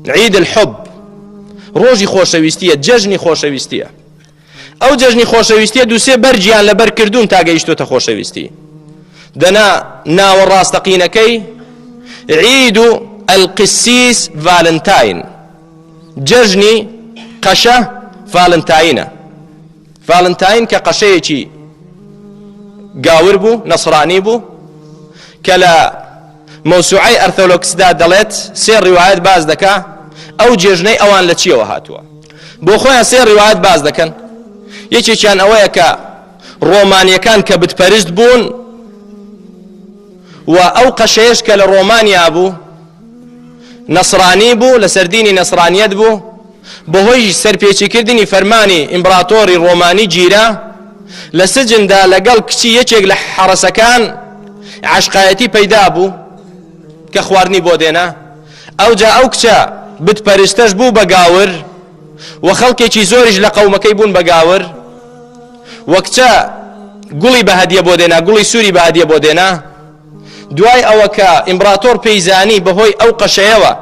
عید الحب ڕۆژی خۆشەویستیە جەژنی خۆشەویستیە ئەو جەژنی خۆشەویستیە دووسێ بەرجیان لەبەر کردوون تا گەیشتوتە خۆشەویستی دەنا ناوە ڕاستەقینەکەی عید و ئەلقسیس ڤالنتاین جەژنی قەشە ڤالنتاینە ڤالنتاین کە قەشەیەکی گاور بوو، نەسرانی بوو، کە لە مەوسوعەی ئەرثۆلۆکسدا دەڵێت سێ ڕیوایەت باس دەکا ئەو جێژنەی ئەوان لە چیەوە هاتووە. بۆ خۆیان سێ ڕیوایەت باس دەکەن، یەکێکیان ئەوەیە کە ڕۆمانیەکان کە بتپەرست بوون و ئەو قەشەیەش کە لە ڕۆمانیا بوو نەسرانی بوو لەسەر دینی نەسرانیەت بوو بەهۆی سەرپێچیکردنی فەرمانی ئیمبراتۆری ڕۆمانی گیرا لە سجندا لەگەڵ کچی یەکێک لە حەڕەسەکان عاشقایەتی پەیدا بوو کە خواردنی بۆ دێنا ئەوجا ئەو کچە بتپەرستەش بوو بە گاور و خەڵکێکی زۆریش لە قەومەکەی بوون بە گاور وە کچە گوڵی بە هەدیە بۆ دێنا گوڵی سووری بە هەدیە بۆ دێنا دوای ئەوە کە ئیمبراتۆر پێیزانی بەهۆی ئەو قەشەیەوە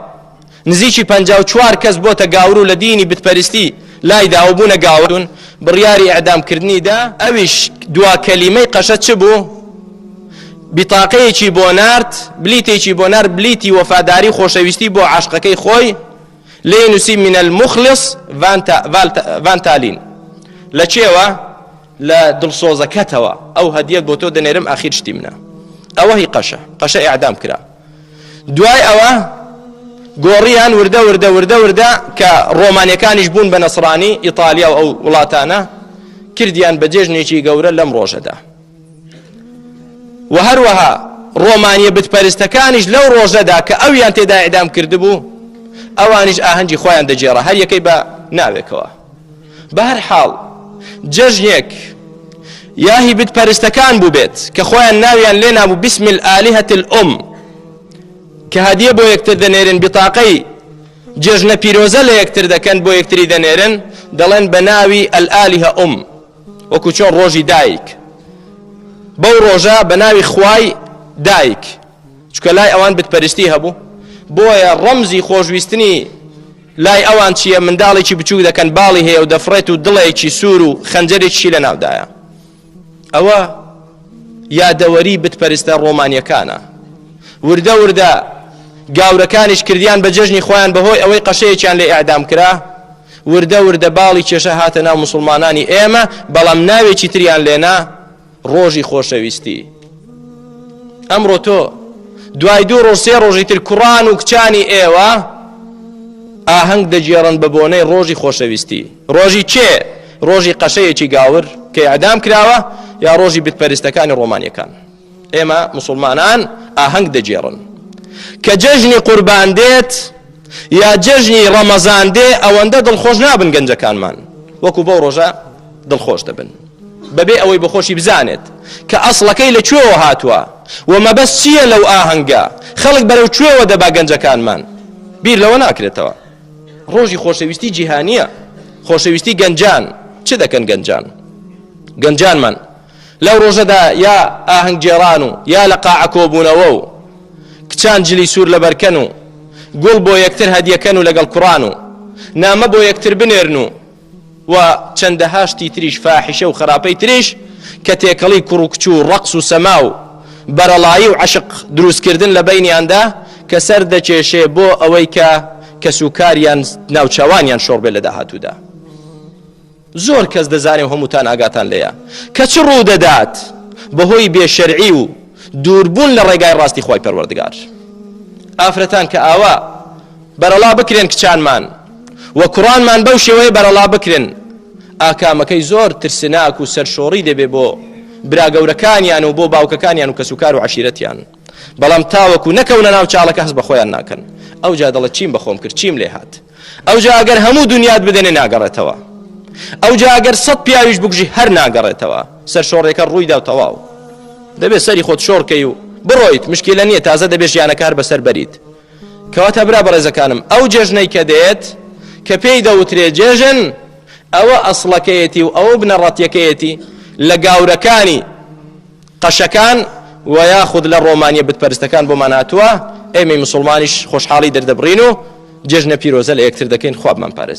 نزیکی پەنجا و چوار کەس بۆتە گاورو لە دینی بتپەرستی لای دا و بوونە گاورون بڕیاری ئیعدام کردنی دا ئەویش دوا کەلیمەی قەشە چ بوو بتاقەیەکی بۆ نارد بلیتێکی بۆ نار بلیتی وەفاداری خۆشەویستی بۆ عاشقەکەی خۆی لێی نووسی من المخلص ڤانتالین لە چێوە لە دڵسۆزەکەتەوە ئەو هەدیەت بۆ تۆ دەنێرم ئاخیر شتی منە ئەوە هی قەشە قەشە ئیعدام کرا دوای ئەوە گۆڕیان وردە وردە وردە وردە کە ڕۆمانیەکانیش بوون بە نەسرانی ئیتالیا و ئەو وڵاتانە کردیان بە جێژنێکی گەورە لەم ڕۆژەدا و هەروەها ڕۆمانیە بتپەرستەکانیش لەو ڕۆژەدا کە ئەویان تێدا ئیدام کردبوو ئەوانیش ئاهەنگی خۆیان دەجێڕە هەر یەکەی بە ناوێکەوە بەهەر حاڵ جەژنێک یا هی بت پەرستەکان بووبێت کە خۆیان ناویان لێ نابوو بسم الآلهة الأم کە هەدیە بۆ یەکتر دەنێرن بتاقەی جێژنە پیرۆزە لە یەکتر دەکەن بۆ یەکتری دەنێرن دەڵێن بە ناوی ئەلئالیه ئوم وەکو چۆن ڕۆژی دایک بەو ڕۆژە بە ناوی خوای دایک چکە لای ئەوان بتپەرستی هەبوو بۆیە ڕەمزی خۆشویستنی لای ئەوان چییە منداڵێکی بچوو دەکەن باڵی هەیە و دەفرێت و دڵێکی سوور و خەنجەرێکی لە ناودایە ئەوە یادەوەری بتپەرستە ڕۆمانیەکانە وردە وردە گاورەکانیش کردیان بە جەژنی خۆیان بەهۆی ئەوەی قەشەیەکیان لە ئەعدام کرا وردە وردە باڵی کێشە هاتە ناو مسلمانانی ئێمە بەڵام ناوێکی تریان لێنا ڕۆژی خۆشەویستی ئەمڕۆ تۆ دوای دوو ڕۆژ سێ ڕۆژی تر کوڕان و کچانی ئێوە ئاهەنگ دەگێڕن بە بۆنەی ڕۆژی خۆشەویستی ڕۆژی کێ ڕۆژی قەشەیەکی گاور کە ئەدام کراوە یا ڕۆژی بتپەرستەکانی ڕۆمانیەکان ئێمە مسلمانان ئاهەنگ دەگێڕن کە جەژنی قوربان دێت یا جەژنی ڕەمەزان دێ ئەوەندە دڵخۆش نابن گەنجەکانمان وەکو بەو ڕۆژە دڵخۆش دەبن بەبێ ئەوەی بۆخۆشی بزانێت کە ئەسڵەکەی لە کوێوە هاتووە و مەبەست چییە لەو ئاهەنگە، خەڵک بەرەو کوێوە دەبا گەنجەکانمان بیر لەوە ناکرێتەوە ڕۆژی خۆشەویستی جیهانییە خۆشەویستی گەنجان چ دەکەن گەنجان گەنجانمان لەو ڕۆژەدا یا ئاهەنگگێڕان و یا لە قاعە کۆبوونەوە و کچان جلی سوور لەبەرکەن و گوڵ بۆ یەکتر هەدیەکەن و لەگەڵ کوڕان و نامە بۆ یەکتر بنێرن و و چەندەها شتی تریش فاحیشە و خراپەی تریش کە تێکەڵی کوڕ و کچ و ڕەقس و سەما و بەرەڵایی و عەشق دروستکردن لە بەینیاندا کە سەر دەکێشێ بۆ ئەوەی کە کەسوکاریان ناوچەوانیان شۆڕ بێ لە داهاتوودا زۆر کەس دەزانێ و هەمووتان ئاگاتان لێیە کە چ ڕوو دەدات بەهۆی بێشەرعی و دووربوون لە ڕێگای ڕاستی خۆی پەروەردگار ئافرەتان کە ئاوا بەرەڵا بکرێن کچانمان و کوڕانمان بەو شێوەیە بەرەڵا بکرێن ئاکامەکەی زۆر ترسناک و سەرشۆڕی دەبێ بۆ براگەورەکانیان و بۆ باوکەکانیان و کەسوکار و عشیرەتیان بەڵام تاوەکو نەکەونە ناو چاڵەکە هەز بە خۆیان ناکەن ئەو جا دەڵە چیم بەخۆم کرد چیم لێ هاات ئەو جا ئەگەر هەموو دنیات بدەنێ ناگەڕێتەوە ئەو جا ئەگەر سەد پیاویش بگژی هەر ناگەڕێتەوە سەر شۆڕێکە ڕووی دا و تەواو دەبێت سەری خۆت شۆڕکەی و بڕۆیت مشکلە نییە تازە دەبێت ژیانەکار بەسەر بەریت کەواتە برا بەڕێزەکانم ئەو جێژنەی کە دێت کە پێی دەوترێ جێژن ئەوە ئەسڵەکەیەتی و ئەوە بنەڕەتیەکەیەتی لە گاورەکانی قەشەکان و یاخود لە ڕۆمانیە بتپەرستەکان بۆمان هاتووە ئێمەی مسلمانیش خۆشحاڵی دەردەبڕین و جێژنە پیرۆزە لە یەکتر دەکەین خوابمان پارێز